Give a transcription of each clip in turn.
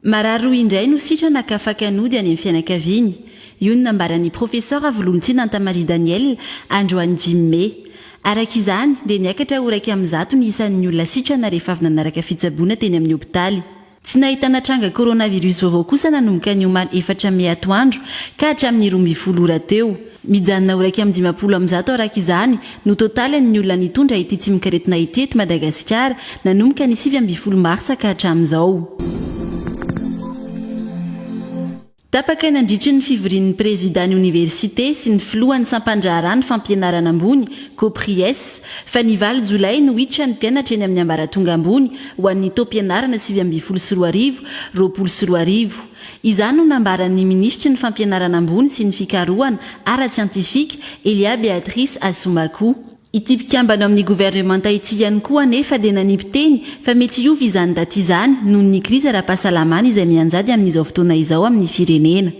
Marary roa indray no sitrana ka faka nody any amin'ny fianakaviany. Io no nambaran'ny profesora Volontiana Antamaria Daniel, androany dimy mey. Araka izany, dia niakatra ho iraika amin'ny zato ny isan'ny olona sitrana rehefa avy nanaraka fitsaboana teny amin'ny hopitaly. Tsy nahitana tranga coronavirus vaovao kosa nanomboka ny omaly efatra mey atoandro ka hatramin'ny roa ambin'ny folo ora teo. Mijanona ho iraika amby dimampolo amin'ny zato araka izany no totalin'ny olona nitondra ity tsimokaretina ity eto Madagasikara nanomboka ny sivy ambin'ny folo martsa ka hatramin'izao. Tapaka nandritry ny fivorian'ny prezidà ny oniversite sy ny filohan'ny sampandraharaha ny fampianarana ambony, Copries, fa ny valo jolay no hiditra ny mpianatra eny amin'ny ambaratonga ambony ho an'ny taom-pianarana sivy ambin'ny folo sy roa arivo, roapolo sy roa arivo. Izany no nambaran'ny minisitry ny Fampianarana ambony sy ny fikarohana ara-tsiantifika, Elia Beatrice Assoumacou. Ity mpikambana ao amin'ny governemanta ity ihany koa anefa dia nanipy teny fa mety hiova izany daty izany noho ny krizy ara-pahasalamana izay mianjady amin'izao fotoana izao amin'ny firenena.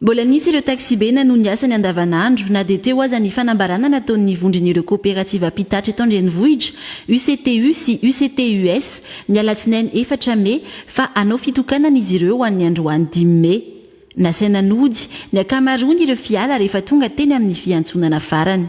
Mbola nisy ireo taxi-be nanohy ny asany andavanandro na dia teo aza ny fanambarana nataon'ny vondron'ireo koperativa mpitatitra eto an-drenivohitra, UCTU sy UCTUS, ny alatsinainy efatra mey fa hanao fitokanana izy ireo ho an'ny androany dimy mey. Nasaina nody ny ankamaroan' ireo fiala rehefa tonga teny amin' ny fiantsonana farany.